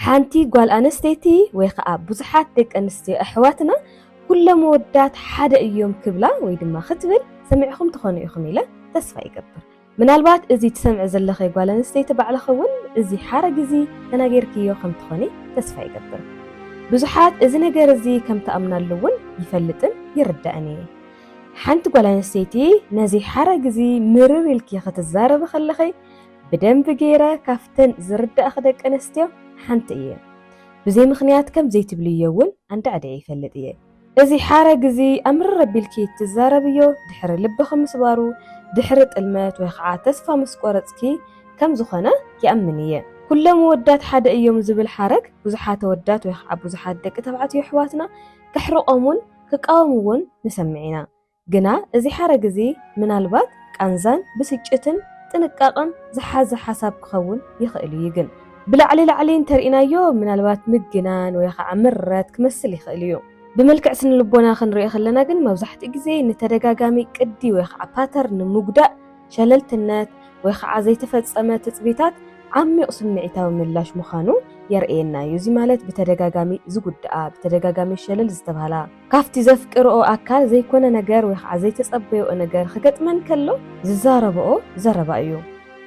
ሓንቲ ጓል ኣነስተይቲ ወይ ኸኣ ብዙሓት ደቂ ኣንስትዮ ኣሕዋትና ኩሎም ኣወዳት ሓደ እዮም ክብላ ወይ ድማ ክትብል ሰሚዕኹም ትኾኑ ኢኹም ኢለ ተስፋ ይገብር። ምናልባት እዚ ትሰምዒ ዘለኺ ጓል ኣንስተይቲ ባዕልኺ እውን እዚ ሓረግ እዚ ተናጊርክዮ ከም ትኾኒ ተስፋ ይገብር። ብዙሓት እዚ ነገር እዚ ከም ትኣምናሉ እውን ይፈልጥን ይርዳእን እየ። ሓንቲ ጓል ኣንስተይቲ ነዚ ሓረግ እዚ ምርር ኢልኪ ክትዛረቢ ከለኺ ብደንቢ ገይረ ካብተን ዝርዳእኺ ደቂ ኣንስትዮ ሓንቲ እየ። ብዘይ ምኽንያት ከም ዘይትብልዮ እውን ኣንዳዕዲዐ ይፈልጥ እየ። እዚ ሓረግ እዚ ኣምርር ኣቢልኪ እትዛረብዮ ድሕሪ ልብኺ ምስባሩ፣ ድሕሪ ጥልመት ወይ ኸዓ ተስፋ ምስ ቆረፅኪ ከም ዝኾነ ይኣምን እየ። ኩሎም ኣወዳት ሓደ እዮም ዝብል ሓረግ ብዙሓት ኣወዳት ወይ ኸዓ ብዙሓት ደቂ ተባዕትዮ ኣሕዋትና ከሕርቖም እውን ክቃወምዎን ንሰምዕ ኢና። ግና እዚ ሓረግ እዚ ምናልባት ቃንዛን ብስጭትን ጥንቃቐን ዝሓዘ ሓሳብ ክኸውን ይኽእል እዩ ግን። ብላዕሊ ላዕሊ እንተርኢናዮ ምናልባት ምግናን ወይ ኻዓ ምረት ክመስል ይኽእል እዩ። ብመልክዕ ስነልቦና ክንሪኦ ከለና ግን መብዛሕትኡ ግዜ ንተደጋጋሚ ቅዲ ወይ ኻዓ ፓተርን ንምጉዳእ ሸለልትነት ወይ ኻዓ ዘይተፈፀመ ትፅቢታት ዓሚቕ ስምዒታዊ ምላሽ ምዃኑ የርእየና እዩ። እዚ ማለት ብተደጋጋሚ ዝጉድኣ፣ ብተደጋጋሚ ሸለል ዝተብሃላ፣ ካብቲ ዘፍቅርኦ ኣካል ዘይኮነ ነገር ወይ ኸዓ ዘይተጸበይኦ ነገር ኽገጥመን ከሎ ዝዛረብኦ ዘረባ እዩ።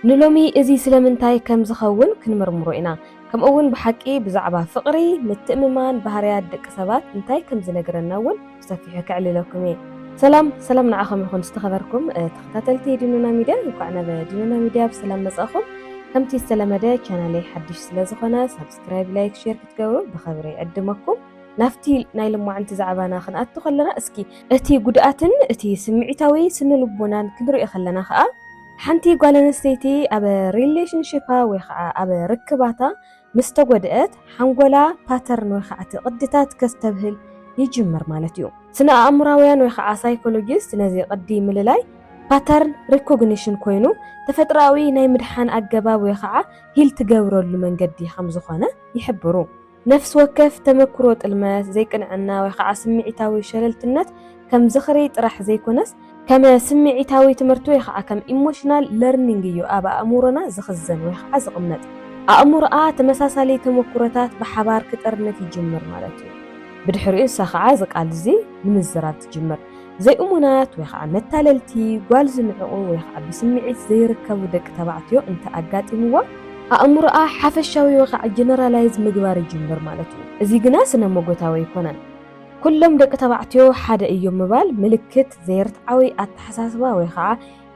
ንሎሚ እዚ ስለምንታይ ከም ዝኸውን ክንምርምሮ ኢና፣ ከምኡውን ብሓቂ ብዛዕባ ፍቕሪ፣ ምትእምማን፣ ባህርያት ደቂ ሰባት እንታይ ከም ዝነግረና እውን ብሰፊሑ ከዕልለኩም እየ። ሰላም ሰላም ንዓኹም ይኹን ዝተኸበርኩም ተኸታተልቲ ዲኖና ሚድያ እንኳዕ ናብ ዲኖና ሚድያ ብሰላም መጻእኹም። ከምቲ ዝተለመደ ቻናለይ ሓድሽ ስለዝኾነ ሳብስክራይብ፣ ላይክ፣ ሼር ክትገብሩ ብኽብሪ ይዕድመኩም። ናብቲ ናይ ልማዕንቲ ዛዕባና ክንኣቱ ከለና እስኪ እቲ ጉድኣትን እቲ ስምዒታዊ ስነልቦናን ክንሪኦ ከለና ከኣ ሓንቲ ጓል ኣንስተይቲ ኣብ ሪሌሽንሺፓ ወይ ከኣ ኣብ ርክባታ ምስ ተጎድኣት ሓንጎላ ፓተርን ወይ ከኣ እቲ ቅድታት ከስተብህል ይጅምር ማለት እዩ። ስነ-ኣእምሮኣውያን ወይ ከኣ ሳይኮሎጂስት ነዚ ቅዲ ምልላይ ፓተርን ሪኮግኒሽን ኮይኑ ተፈጥሮኣዊ ናይ ምድሓን ኣገባብ ወይ ከኣ ሂል ትገብረሉ መንገዲ ከም ዝኾነ ይሕብሩ። ነፍሲ ወከፍ ተመክሮ ጥልመት፣ ዘይቅንዕና ወይ ኸዓ ስምዒታዊ ሸለልትነት ከም ዝኽሪ ጥራሕ ዘይኮነስ፣ ከም ስምዒታዊ ትምህርቲ ወይ ኸዓ ከም ኢሞሽናል ለርኒንግ እዩ ኣብ ኣእምሮና ዝኽዘን ወይ ኸዓ ዝቕመጥ። ኣእምሮኣ ተመሳሳሊ ተመክሮታት ብሓባር ክጥርንፍ ይጅምር ማለት እዩ። ብድሕሪኡ ንሳ ኸዓ እዚ ቃል'ዚ ንምዝራብ ትጅምር። ዘይእሙናት ወይ ኸዓ መታለልቲ ጓል ዝንዕቑ ወይ ኸዓ ብስምዒት ዘይርከቡ ደቂ ተባዕትዮ እንተ ኣጋጢምዋ፣ ኣእምሮኣ ሓፈሻዊ ወይ ኸዓ ጀነራላይዝ ምግባር ይጅምር ማለት እዩ። እዚ ግና ስነ-ሞጎታዊ ኣይኮነን። ኩሎም ደቂ ተባዕትዮ ሓደ እዮም ምባል ምልክት ዘይርትዓዊ ኣተሓሳስባ ወይ ኸዓ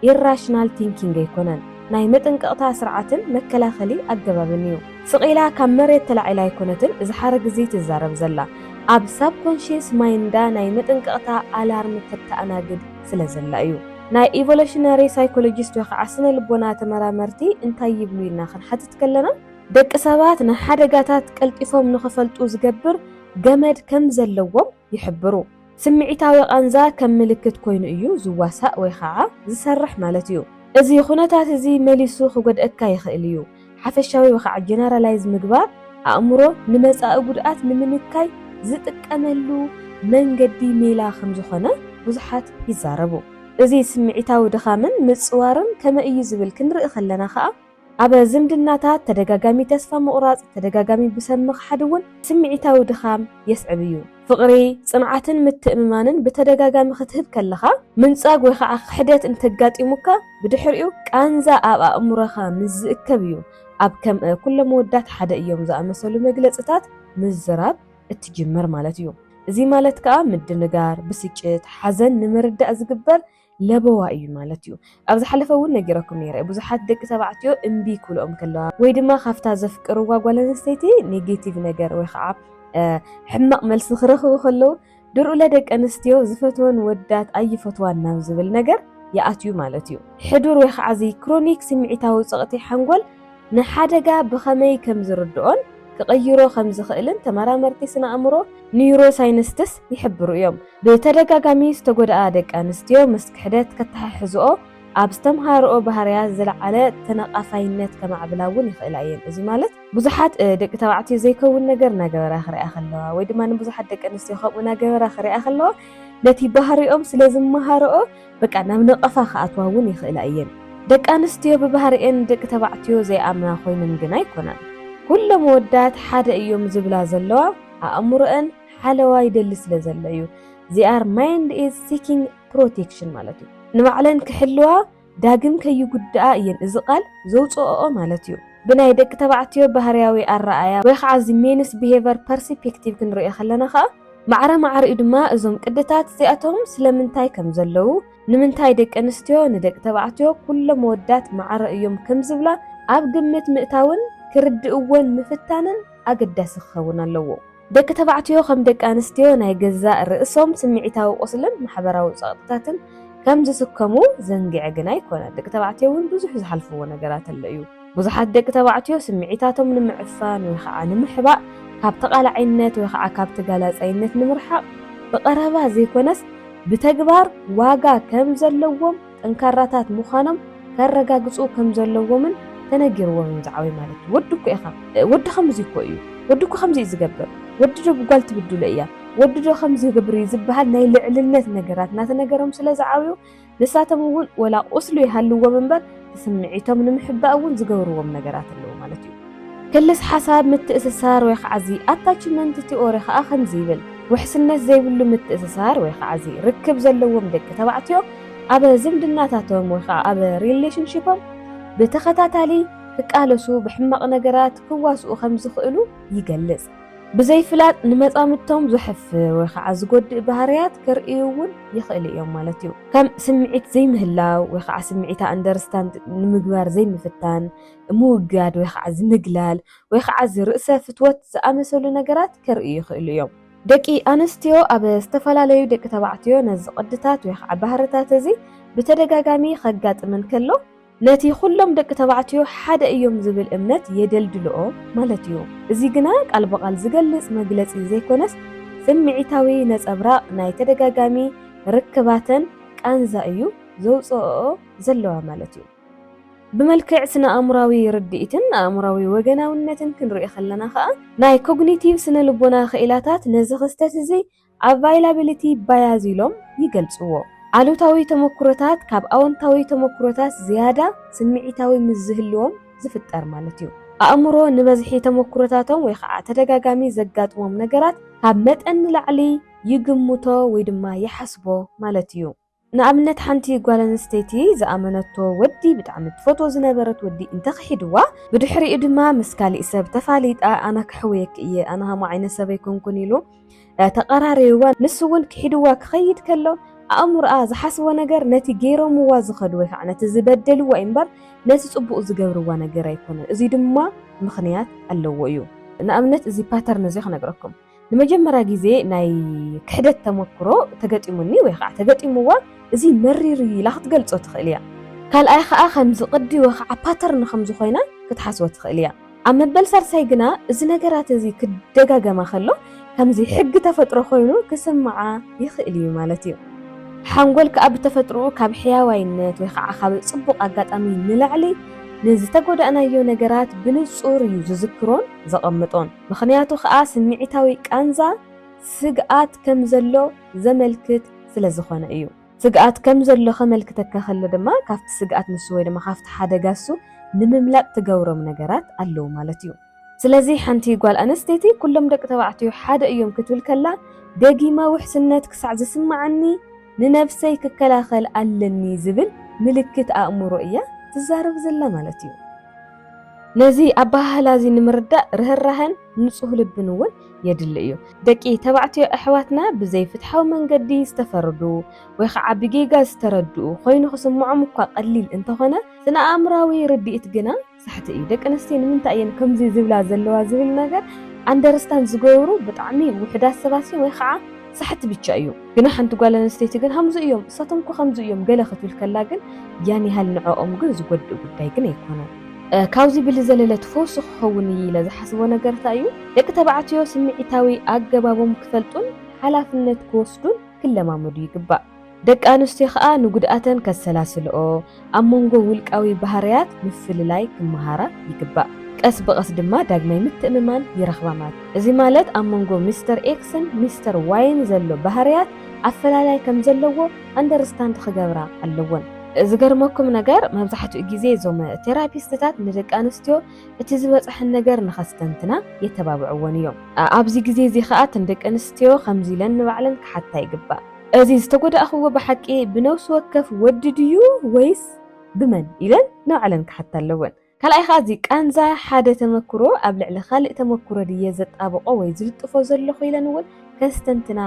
ኢራሽናል ቲንኪንግ ኣይኮነን ናይ መጠንቀቕታ ስርዓትን መከላኸሊ ኣገባብን እዩ። ስቕ ኢላ ካብ መሬት ተላዒላ ኣይኮነትን እዚ ሓረግ እዚ ትዛረብ ዘላ። ኣብ ሳብኮንሽየስ ማይንዳ ናይ መጠንቀቕታ ኣላርም ተተኣናግድ ስለ ዘላ እዩ። ናይ ኢቮለሽነሪ ሳይኮሎጂስት ወይ ኸዓ ስነ ልቦና ተመራመርቲ እንታይ ይብሉ ኢልና ክንሓትት ከለና፣ ደቂ ሰባት ንሓደጋታት ቀልጢፎም ንኽፈልጡ ዝገብር ገመድ ከም ዘለዎም ይሕብሩ። ስምዒታዊ ቃንዛ ከም ምልክት ኮይኑ እዩ ዝዋሳእ ወይ ኸዓ ዝሰርሕ ማለት እዩ። እዚ ኹነታት እዚ መሊሱ ክጎድእካ ይኽእል እዩ። ሓፈሻዊ ወይ ኸዓ ጀነራላይዝ ምግባር ኣእምሮ ንመፃኢ ጉድኣት ንምንካይ ዝጥቀመሉ መንገዲ ሜላ ከም ዝኾነ ብዙሓት ይዛረቡ። እዚ ስምዒታዊ ድኻምን ምፅዋርን ከመይ እዩ ዝብል ክንርኢ ከለና ኸዓ፣ ኣብ ዝምድናታት ተደጋጋሚ ተስፋ ምቑራጽ፣ ተደጋጋሚ ብሰብ ምኽሓድ እውን ስምዒታዊ ድኻም የስዕብ እዩ። ፍቕሪ፣ ጽንዓትን ምትእምማንን ብተደጋጋሚ ክትህብ ከለኻ፣ ምንጻግ ወይ ኸኣ ክሕደት እንተ ኣጋጢሙካ፣ ብድሕሪኡ ቃንዛ ኣብ ኣእምሮኻ ምስ ዝእከብ እዩ ኣብ ከም ኩሎም ኣወዳት ሓደ እዮም ዝኣመሰሉ መግለጺታት ምዝራብ እትጅምር ማለት እዩ። እዚ ማለት ከኣ ምድንጋር፣ ብስጭት፣ ሓዘን ንምርዳእ ዝግበር ለበዋ እዩ ማለት እዩ። ኣብ ዝሓለፈ እውን ነጊረኩም ነይረ ብዙሓት ደቂ ተባዕትዮ እምቢ ክብልኦም ከለዋ ወይ ድማ ካብታ ዘፍቅርዋ ጓል ኣንስተይቲ ኔጌቲቭ ነገር ወይ ከዓ ሕማቕ መልሲ ክረኽቡ ከለዉ ድርኡለ ደቂ ኣንስትዮ ዝፈትወን ወዳት ኣይፈትዋን ናብ ዝብል ነገር ይኣትዩ ማለት እዩ። ሕዱር ወይ ከዓ እዚ ክሮኒክ ስምዒታዊ ጸቕጢ ሓንጎል ንሓደጋ ብኸመይ ከም ዝርድኦን ክቕይሮ ከም ዝኽእልን ተመራመርቲ ስነ-ኣእምሮ፣ ኒዩሮሳይንስትስ፣ ይሕብሩ እዮም። ብተደጋጋሚ ዝተጎድኣ ደቂ ኣንስትዮ ምስ ክሕደት ከተሓሕዝኦ ኣብ ዝተምሃርኦ ባህርያት ዝለዓለ ተነቓፋይነት ከማዕብላ እውን ይኽእላ እየን። እዚ ማለት ብዙሓት ደቂ ተባዕትዮ ዘይከውን ነገር እናገበራ ክሪኣ ከለዋ ወይ ድማ ንብዙሓት ደቂ ኣንስትዮ ከምኡ እናገበራ ክሪኣ ከለዋ ነቲ ባህሪኦም ስለ ዝመሃርኦ በቃ ናብ ነቐፋ ክኣትዋ እውን ይኽእላ እየን። ደቂ ኣንስትዮ ብባህሪኤን ንደቂ ተባዕትዮ ዘይኣምና ኮይነን ግን ኣይኮናን። ኩሎም ኣወዳት ሓደ እዮም ዝብላ ዘለዋ ኣእምሮኤን ሓለዋ ይደሊ ስለ ዘሎ እዩ። ዜኣር ማይንድ ኢዝ ሲኪንግ ፕሮቴክሽን ማለት እዩ። ንባዕለን ክሕልዋ ዳግም ከይጉድኣ እየን እዚ ቃል ዘውፅኦኦ ማለት እዩ። ብናይ ደቂ ተባዕትዮ ባህሪያዊ ኣረኣእያ ወይ ከዓ እዚ ሜንስ ቢሄቨር ፐርሲፔክቲቭ ክንሪኦ ከለና ከዓ፣ ማዕረ ማዕሪኡ ድማ እዞም ቅድታት እዚኣቶም ስለምንታይ ከም ዘለዉ፣ ንምንታይ ደቂ ኣንስትዮ ንደቂ ተባዕትዮ ኩሎም ኣወዳት ማዕረ እዮም ከም ዝብላ ኣብ ግምት ምእታውን ክርድእዎን ምፍታንን ኣገዳሲ ክኸውን ኣለዎ። ደቂ ተባዕትዮ ከም ደቂ ኣንስትዮ ናይ ገዛእ ርእሶም ስምዒታዊ ቁስልን ማሕበራዊ ጸቕጥታትን ከም ዝስከሙ ዘንግዔ ግና ኣይኮነን። ደቂ ተባዕትዮ እውን ብዙሕ ዝሓልፍዎ ነገራት ኣሎ እዩ። ብዙሓት ደቂ ተባዕትዮ ስምዒታቶም ንምዕፋን ወይ ኸዓ ንምሕባእ ካብ ተቓላዓይነት ወይ ኸዓ ካብ ተጋላጻይነት ንምርሓቕ ብቐረባ ዘይኮነስ ብተግባር ዋጋ ከም ዘለዎም ጠንካራታት ምዃኖም ከረጋግጹ ከም ዘለዎምን ተነጊርዎም እዮም ዝዓብዩ ማለት እዩ። ወዲ እኮ ኢኻ፣ ወዲ ከምዚ እኮ እዩ፣ ወዲ እኮ ከምዚ እዩ ዝገብር፣ ወዲ ዶ ብጓል ትብድሎ እያ፣ ወዲ ዶ ከምዚ ይገብር እዩ ዝበሃል ናይ ልዕልነት ነገራት እናተነገሮም ስለ ዝዓብዩ ንሳቶም እውን ወላ ቁስሉ ይሃልዎም እምበር እቲ ስምዒቶም ንምሕባእ እውን ዝገብርዎም ነገራት ኣለዉ ማለት እዩ። ክልስ ሓሳብ ምትእስሳር ወይ ከዓ እዚ ኣታችመንት ቲኦሪ ከዓ ከምዚ ይብል፣ ውሕስነት ዘይብሉ ምትእስሳር ወይ ከዓ እዚ ርክብ ዘለዎም ደቂ ተባዕትዮ ኣብ ዝምድናታቶም ወይ ከዓ ኣብ ሪሌሽንሺፖም ብተኸታታሊ ክቃለሱ፣ ብሕማቕ ነገራት ክዋስኡ ከምዝኽእሉ ይገልፅ። ብዘይ ፍላጥ ንመጻምድቶም ዘሕፍር ወይ ከዓ ዝጎድእ ባህርያት ከርእዩ እውን ይኽእሉ እዮም ማለት እዩ። ከም ስምዒት ዘይምህላው ወይ ከዓ ስምዒታ ኣንደርስታንድ ንምግባር ዘይምፍታን፣ ምውጋድ ወይ ከዓ ዝምግላል ወይ ከዓ ዝርእሰ ፍትወት ዝኣመሰሉ ነገራት ከርእዩ ይኽእሉ እዮም። ደቂ ኣንስትዮ ኣብ ዝተፈላለዩ ደቂ ተባዕትዮ ነዚ ቅድታት ወይ ከዓ ባህርታት እዚ ብተደጋጋሚ ከጋጥመን ከሎ፣ ነቲ ዅሎም ደቂ ተባዕትዮ ሓደ እዮም ዚብል እምነት የደልድልኦ ማለት እዩ። እዚ ግና ቃል ብቓል ዚገልጽ መግለጺ ዘይኰነስ፣ ስምዒታዊ ነጸብራቕ ናይ ተደጋጋሚ ርክባተን ቃንዛ እዩ ዘውጽእኦ ዘለዋ ማለት እዩ። ብመልክዕ ስነ-ኣእምሮኣዊ ርድኢትን ኣእምሮኣዊ ወገናውነትን ክንርእዮ ኸለና ኸኣ፣ ናይ ኮግኒቲቭ ስነ-ልቦና ኽኢላታት ነዚ ኽስተት እዚ Availability Bias ኢሎም ይገልጽዎ። ኣሉታዊ ተመኩሮታት ካብ ኣወንታዊ ተመኩሮታት ዝያዳ ስምዒታዊ ምስ ዝህልዎም ዝፍጠር ማለት እዩ። ኣእምሮ ንበዝሒ ተመኩሮታቶም ወይ ኸዓ ተደጋጋሚ ዘጋጥሞም ነገራት ካብ መጠን ንላዕሊ ይግምቶ ወይ ድማ ይሓስቦ ማለት እዩ። ንኣብነት ሓንቲ ጓል ኣንስተይቲ ዝኣመነቶ ወዲ ብጣዕሚ ትፈትዎ ዝነበረት ወዲ እንተ ክሒድዋ ብድሕሪኡ ድማ ምስ ካሊእ ሰብ ተፋሊጣ ኣነ ከሕውየኪ እየ ኣነ ሃምኡ ዓይነት ሰብ ኣይኮንኩን ኢሉ ተቀራሪብዋ ንሱ እውን ክሒድዋ ክኸይድ ከሎ ኣእምሮኣ ዝሓስቦ ነገር ነቲ ገይሮምዋ ዝኸዱ ወይ ከዓ ነቲ ዝበደልዋ እዩ እምበር ነቲ ፅቡቅ ዝገብርዋ ነገር ኣይኮነን እዙይ ድማ ምኽንያት ኣለዎ እዩ ንኣብነት እዚ ፓተርን እዚ ክነግረኩም ንመጀመርያ ግዜ ናይ ክሕደት ተመክሮ ተገጢሙኒ ወይ ከዓ ተገጢምዋ እዚ መሪር እዩ ኢላ ክትገልፆ ትኽእል እያ። ካልኣይ ከዓ ከምዚ ቅዲ ወይ ከዓ ፓተርን ከምዚ ኮይና ክትሓስቦ ትኽእል እያ። ኣብ መበል ሳልሳይ ግና እዚ ነገራት እዚ ክደጋገማ ከሎ ከምዚ ሕጊ ተፈጥሮ ኮይኑ ክስምዓ ይኽእል እዩ ማለት እዩ። ሓንጎል ከዓ ብተፈጥርኡ ካብ ሕያዋይነት ወይ ከዓ ካብ ፅቡቕ ኣጋጣሚ ንላዕሊ ንዝተጎዳእናዮ ነገራት ብንፁር እዩ ዝዝክሮን ዘቐምጦን። ምኽንያቱ ከኣ ስምዒታዊ ቃንዛ ስግኣት ከም ዘሎ ዘመልክት ስለ ዝኾነ እዩ። ስግኣት ከም ዘሎ ከመልክተካ ከሎ ድማ ካብቲ ስግኣት ንሱ ወይ ድማ ካብቲ ሓደጋ እሱ ንምምላጥ ትገብሮም ነገራት ኣለዉ ማለት እዩ። ስለዚ ሓንቲ ጓል ኣነስተይቲ ኩሎም ደቂ ተባዕትዮ ሓደ እዮም ክትብል ከላ ደጊመ ውሕስነት ክሳዕ ዝስምዓኒ ንነብሰይ ክከላኸል ኣለኒ ዝብል ምልክት ኣእምሮ እያ ትዛረብ ዘላ ማለት እዩ። ነዚ ኣበሃህላ እዚ ንምርዳእ ርህራሀን ንጹህ ልብን እውን የድሊ እዩ። ደቂ ተባዕትዮ ኣሕዋትና ብዘይፍትሓዊ መንገዲ ዝተፈርዱ ወይ ኸዓ ብጌጋ ዝተረድኡ ኾይኑ ክስምዖም እኳ ቀሊል እንተኾነ፣ ስነ-ኣእምሮኣዊ ርድኢት ግና ሳሕቲ እዩ። ደቂ ኣንስትዮ ንምንታይ እየን ከምዚ ዝብላ ዘለዋ ዝብል ነገር ኣንደርስታንድ ዝገብሩ ብጣዕሚ ውሑዳት ሰባት እዮም ወይ ኸዓ፣ ሳሕቲ ብቻ እዩ ግና ሓንቲ ጓል ኣንስተይቲ ግን ሃምዙ እዮም እሳቶም እኮ ከምዙ እዮም ገለ ክትብል ከላ ግን ያን ያህል ንዕኦም ግን ዝጎድእ ጉዳይ ግን ኣይኮነን። ካብዚ ብልዘለለ ትፈውሲ ክኸውን እዪ ኢለ ዝሓስቦ ነገር እታይ እዩ ደቂ ተባዕትዮ ስምዒታዊ ኣገባቦም ክፈልጡን ሓላፍነት ክወስዱን ክለማመዱ ይግባእ። ደቂ ኣንስትዮ ከኣ ንጉድኣተን ከሰላስልኦ፣ ኣብ መንጎ ውልቃዊ ባህርያት ምፍልላይ ክመሃራ ይግባእ። ቀስ ብቐስ ድማ ዳግማይ ምትእምማን ይረኽባ ማለት እዩ። እዚ ማለት ኣብ መንጎ ሚስተር ኤክስን ሚስተር ዋይን ዘሎ ባህርያት ኣፈላላይ ከም ዘለዎ ኣንደርስታንድ ክገብራ ኣለወን። ዝገርመኩም ነገር መብዛሕትኡ ግዜ እዞም ቴራፒስትታት ንደቂ ኣንስትዮ እቲ ዝበጽሐን ነገር ንኸስተንትና የተባብዕወን እዮም። ኣብዚ ግዜ እዚ ከኣ እተን ደቂ ኣንስትዮ ከምዚ ኢለን ንባዕለን ክሓታ ይግባእ። እዚ ዝተጎዳእኽዎ ብሓቂ ብነብሲ ወከፍ ወዲ ድዩ ወይስ ብመን ኢለን ንባዕለን ክሓታ ኣለወን። ካልኣይ ከኣ እዚ ቃንዛ ሓደ ተመክሮ ኣብ ልዕሊ ካልእ ተመክሮ ድየ ዘጣብቆ ወይ ዝልጥፎ ዘለኹ ኢለን እውን ከስተንትና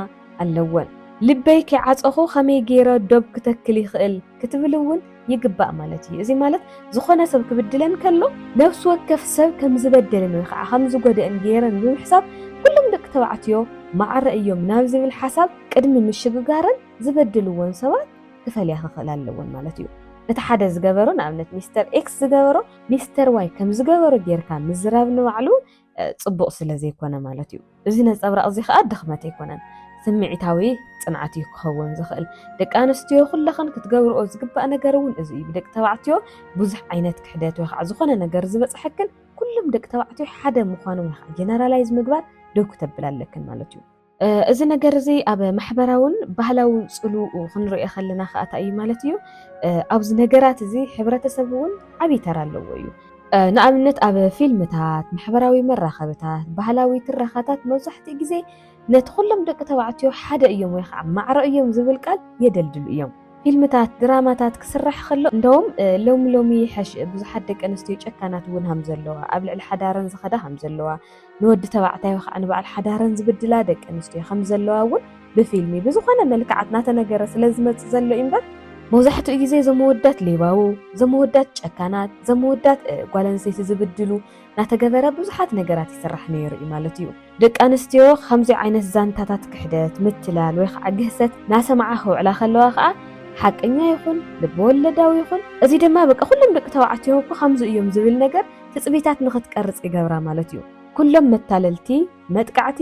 ኣለወን። ልበይ ከይዓጸኹ ከመይ ገይረ ዶብ ክተክል ይኽእል? ክትብል እውን ይግባእ ማለት እዩ። እዚ ማለት ዝኾነ ሰብ ክብድለን ከሎ ነፍሲ ወከፍ ሰብ ከም ዝበደልን ወይ ከዓ ከም ዝጎደእን ገይረን ብምሕሳብ ኩሎም ደቂ ተባዕትዮ ማዕረ እዮም ናብ ዝብል ሓሳብ ቅድሚ ምሽግጋረን ዝበደልዎን ሰባት ክፈልያ ክኽእል ኣለዎን ማለት እዩ። እቲ ሓደ ዝገበሮ ንኣብነት ሚስተር ኤክስ ዝገበሮ ሚስተር ዋይ ከም ዝገበሮ ጌርካ ምዝራብ ንባዕሉ ጽቡቕ ስለ ዘይኮነ ማለት እዩ። እዚ ነጸብራቕ እዚ ከኣ ድኽመት ኣይኮነን፣ ስምዒታዊ ጽንዓት እዩ ክኸውን ዝኽእል። ደቂ ኣንስትዮ ኩለኽን ክትገብርኦ ዝግባእ ነገር እውን እዚ እዩ። ብደቂ ተባዕትዮ ብዙሕ ዓይነት ክሕደት ወይ ከዓ ዝኾነ ነገር ዝበጽሐክን ኩሎም ደቂ ተባዕትዮ ሓደ ምዃኖም ጀነራላይዝ ምግባር ደው ክተብል ኣለክን ማለት እዩ። እዚ ነገር እዚ ኣብ ማሕበራውን ባህላዊ ፅልውኡ ክንሪኦ ከለና ከዓ እንታይ እዩ ማለት እዩ ኣብዚ ነገራት እዚ ሕብረተሰብ እውን ዓብዪ ተራ ኣለዎ እዩ። ንኣብነት ኣብ ፊልምታት፣ ማሕበራዊ መራኸብታት፣ ባህላዊ ትረኻታት መብዛሕትኡ ግዜ ነቲ ኩሎም ደቂ ተባዕትዮ ሓደ እዮም ወይ ከዓ ማዕረ እዮም ዝብል ቃል የደልድሉ እዮም። ፊልምታት፣ ድራማታት ክስራሕ ከሎ እንደውም ሎሚ ሎሚ ይሐሽ ብዙሓት ደቂ ኣንስትዮ ጨካናት እውን ሃም ዘለዋ ኣብ ልዕሊ ሓዳረን ዝኸዳ ሃም ዘለዋ ንወዲ ተባዕታዮ ከኣ ንበዓል ሓዳረን ዝብድላ ደቂ ኣንስትዮ ከም ዘለዋ እውን ብፊልሚ ብዝኾነ መልክዓት ናተነገረ ስለ ዝመጽእ ዘሎ እዩ እምበር፣ መብዛሕትኡ ግዜ እዞም ኣወዳት ሌባው፣ እዞም ኣወዳት ጨካናት፣ እዞም ኣወዳት ጓል ኣንስተይቲ ዝብድሉ ናተገበረ ብዙሓት ነገራት ይስራሕ ነይሩ እዩ ማለት እዩ። ደቂ ኣንስትዮ ከምዚ ዓይነት ዛንታታት ክሕደት፣ ምትላል ወይ ከኣ ግህሰት ናሰምዓ ክውዕላ ከለዋ ከኣ ሓቀኛ ይኹን ልበወለዳዊ ይኹን እዚ ድማ በቃ ኩሎም ደቂ ተባዕትዮ እኮ ከምዚ እዮም ዝብል ነገር ትጽቢታት ንኽትቀርጽ ይገብራ ማለት እዩ። ኩሎም መታለልቲ፣ መጥቃዕቲ፣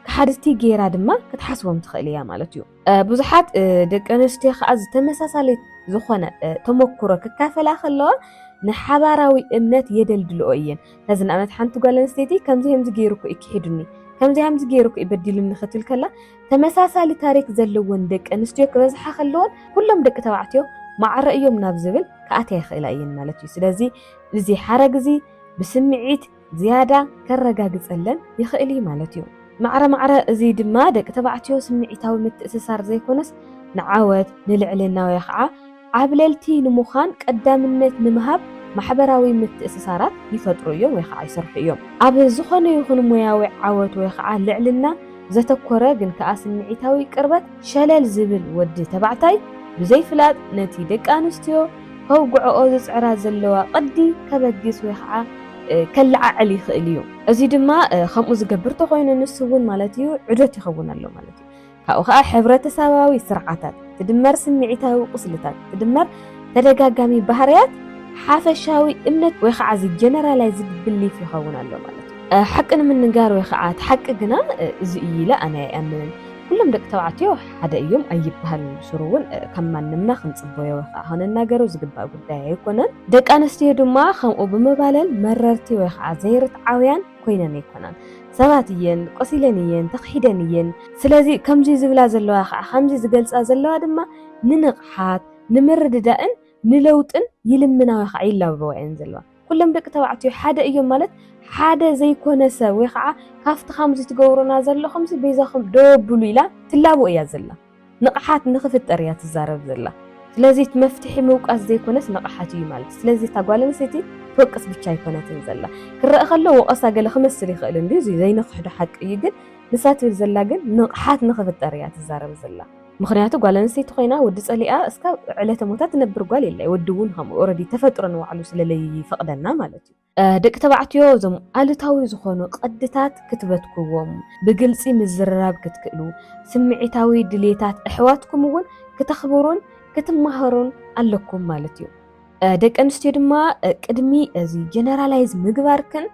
ከሓድቲ ገይራ ድማ ክትሓስቦም ትኽእል እያ ማለት እዩ። ብዙሓት ደቂ ኣንስትዮ ከኣ ዝተመሳሳሊ ዝኾነ ተመኩሮ ክካፈላ ከለዋ ንሓባራዊ እምነት የደልድልኦ እየን። ነዚ ንኣብነት ሓንቲ ጓል ኣንስተይቲ ከምዚ ከምዚ ገይሩ እኮ እዩ ክሒዱኒ ከምዚ ከምዚ ገይሩ እኮ እዩ በዲሉኒ ክትብል ከላ ተመሳሳሊ ታሪክ ዘለወን ደቂ ኣንስትዮ ክበዝሓ ከለወን ኩሎም ደቂ ተባዕትዮ ማዕረ እዮም ናብ ዝብል ክኣትያ ይኽእላ እየን ማለት እዩ። ስለዚ እዚ ሓረግ እዚ ብስምዒት ዝያዳ ከረጋግጸለን ይኽእል እዩ ማለት እዩ። ማዕረ ማዕረ እዚ ድማ ደቂ ተባዕትዮ ስምዒታዊ ምትእስሳር ዘይኮነስ ንዓወት፣ ንልዕልና ወይ ኸዓ ዓብለልቲ ንምዃን ቀዳምነት ንምሃብ ማሕበራዊ ምትእስሳራት ይፈጥሩ እዮም ወይ ኸዓ ይሰርሑ እዮም። ኣብ ዝኾነ ይኹን ሞያዊ ዓወት ወይ ኸዓ ልዕልና ዘተኮረ ግን ከኣ ስምዒታዊ ቅርበት ሸለል ዝብል ወዲ ተባዕታይ ብዘይፍላጥ ነቲ ደቂ ኣንስትዮ ከውግዕኦ ዝጽዕራ ዘለዋ ቅዲ ከበግስ ወይ ኸዓ ከለዓዕል ይኽእል እዩ። እዚ ድማ ከምኡ ዝገብር ተኾይኑ ንሱ እውን ማለት እዩ ዑደት ይኸውን ኣሎ ማለት እዩ። ካብኡ ኸዓ ሕብረተሰባዊ ስርዓታት ትድመር ስምዒታዊ ቁስልታት ትድመር ተደጋጋሚ ባህርያት ሓፈሻዊ እምነት ወይ ኸዓ እዚ ጀነራላይዝድ ብሊፍ ይኸውን ኣሎ ማለት እዩ። ሓቂ ንምንጋር ወይ ኸዓ እቲ ሓቂ ግና እዚ እዩ ኢለ ኣነ ኣይኣምንን። ኩሎም ደቂ ተባዕትዮ ሓደ እዮም ኣይብሃልን ብሱሩ እውን ከም ማንምና ክንጽቦዮ ወይ ከኣ ክንናገሮ ዝግባእ ጉዳይ ኣይኮነን። ደቂ ኣንስትዮ ድማ ከምኡ ብምባለን መረርቲ ወይ ከኣ ዘይርትዓውያን ኮይነን ኣይኮናን። ሰባት እየን፣ ቆሲለን እየን፣ ተኽሒደን እየን። ስለዚ ከምዚ ዝብላ ዘለዋ ከኣ ከምዚ ዝገልጻ ዘለዋ ድማ ንንቕሓት፣ ንምርድዳእን ንለውጥን ይልምና ወይ ከኣ ይላበዋ እየን ዘለዋ። ኩሎም ደቂ ተባዕትዮ ሓደ እዮም ማለት ሓደ ዘይኮነ ሰብ ወይ ከዓ ካብቲ ከምዚ ትገብሩና ዘለኹምሲ በይዛኹም ደው ኣብሉ ኢላ ትላቦ እያ ዘላ። ንቕሓት ንኽፍጠር እያ ትዛረብ ዘላ። ስለዚ እቲ መፍትሒ ምውቃስ ዘይኮነስ ንቕሓት እዩ ማለት እዩ። ስለዚ እታ ጓል ኣንስተይቲ ትወቅስ ብቻ ኣይኮነትን ዘላ። ክረአ ከሎ ወቐሳ ገለ ክመስል ይኽእል እንድዩ፣ እዚ ዘይንኽሕዶ ሓቂ እዩ። ግን ንሳ ትብል ዘላ ግን ንቕሓት ንኽፍጠር እያ ትዛረብ ዘላ። ምኽንያቱ ጓል ኣንስተይቲ ኮይና ወዲ ጸሊኣ እስካብ ዕለተ ሞታ ትነብር ጓል የለ ወዲ እውን ከምኡ ኦረዲ ተፈጥሮ ንባዕሉ ስለለይፈቅደና ማለት እዩ። ደቂ ተባዕትዮ እዞም ኣሉታዊ ዝኾኑ ቅድታት ክትበትክዎም ብግልጺ ምዝርራብ ክትክእሉ ስምዒታዊ ድልየታት ኣሕዋትኩም እውን ክተኽብሩን ክትማሃሩን ኣለኩም ማለት እዩ። ደቂ ኣንስትዮ ድማ ቅድሚ እዚ ጀነራላይዝ ምግባርክን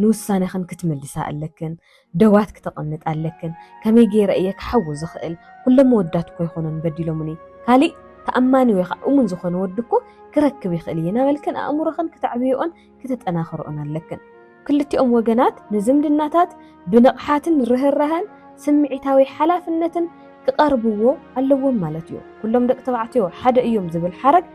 ንውሳነኽን ክትምልሳ ኣለክን። ደዋት ክተቀምጥ ኣለክን ከመይ ገይረ እየ ክሓዊ ዝክእል ኩሎም ኣወዳት እኮ ኣይኮኑን በዲሎሙኒ ካሊእ ተኣማኒ ወይ ከዓ እሙን ዝኮነ ወዲ እኮ ክረክብ ይክእል እየ ናበልክን ኣእምሮክን ክተዕብየኦን ክተጠናክረኦን ኣለክን ክልቲኦም ወገናት ንዝምድናታት ብንቕሓትን ርህራሀን ስምዒታዊ ሓላፍነትን ክቀርብዎ ኣለዎም ማለት እዩ ኩሎም ደቂ ተባዕትዮ ሓደ እዮም ዝብል ሓረግ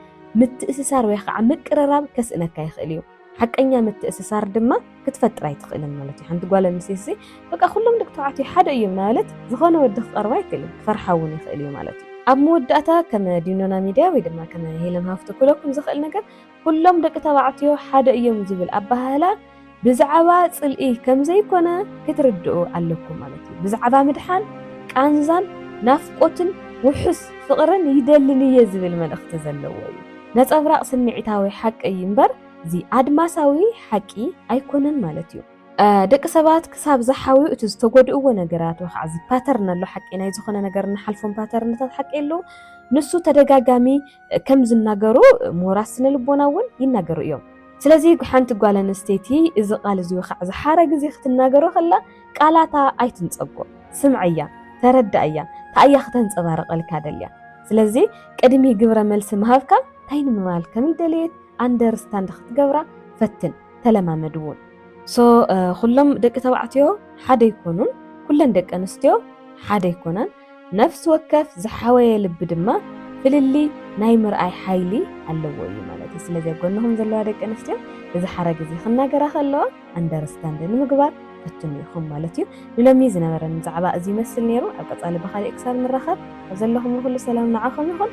ምትእስሳር ወይ ከዓ ምቅርራብ ከስእነካ ይክእል እዩ። ሓቀኛ ምትእስሳር ድማ ክትፈጥር ኣይትኽእልን ማለት እዩ። ሓንቲ ጓል ኣንስተይቲ ሲ በቃ ኩሎም ደቂ ተባዕትዮ ሓደ እዮም እናበለት ዝኾነ ወዲ ክቐርባ ኣይክእልን፣ ክፈርሓ እውን ይኽእል እዩ ማለት እዩ። ኣብ መወዳእታ ከም ዲኖና ሚድያ ወይ ድማ ከም ሄለን ሃፍቱ ክብለኩም ዝኽእል ነገር ኩሎም ደቂ ተባዕትዮ ሓደ እዮም ዝብል ኣበሃህላ ብዛዕባ ጽልኢ ከም ዘይኮነ ክትርድኡ ኣለኩም ማለት እዩ። ብዛዕባ ምድሓን፣ ቃንዛን፣ ናፍቆትን ውሑስ ፍቕርን ይደልን እየ ዝብል መልእኽቲ ዘለዎ እዩ። ነጸብራቕ ስምዒታዊ ሓቂ እዩ እምበር እዚ ኣድማሳዊ ሓቂ ኣይኮነን ማለት እዩ። ደቂ ሰባት ክሳብ ዝሓውዩ እቲ ዝተጎድእዎ ነገራት ወይ ከዓ እዚ ፓተርን ኣሎ ሓቂ ናይ ዝኾነ ነገር እንሓልፎም ፓተርንታት ሓቂ ኣለዉ ንሱ ተደጋጋሚ ከም ዝናገሩ ምሁራት ስነ ልቦና እውን ይናገሩ እዮም። ስለዚ ሓንቲ ጓል ኣንስተይቲ እዚ ቃል እዚ ወይ ከዓ እዚ ሓረግ እዚ ክትናገሮ ከላ ቃላታ ኣይትንጸጎ ስምዐያ ተረዳኣያ ታኣያ ክተንጸባርቀልካ ደልያ ስለዚ ቅድሚ ግብረ መልሲ ምሃብካ ታይ ንምባል ከምልደለየት ኣንደርስታንድ ክትገብራ ፈትን ተለማመድ ውን። So ኩሎም ደቂ ተባዕትዮ ሓደ ኣይኮኑን ኩለን ደቂ ኣንስትዮ ሓደ ኣይኮናን። ነፍሲ ወከፍ ዝሓወየ ልቢ ድማ ፍልልይ ናይ ምርኣይ ሓይሊ ኣለዎ እዩ ማለት እዩ። ስለዚ ኣብ ጎንኹም ዘለዋ ደቂ ኣንስትዮ እዚ ሓረግ እዚ ክናገራ ከለዋ ኣንደርስታንድ ንምግባር ፈትኑ ኢኹም ማለት እዩ። ንሎሚ ዝነበረን ብዛዕባ እዚ ይመስል ነይሩ። ኣብ ቀጻሊ ብኻሊእ ክሳብ ንራኸብ ኣብ ዘለኹም ንኹሉ ሰላም ንዓኹም ይኹን።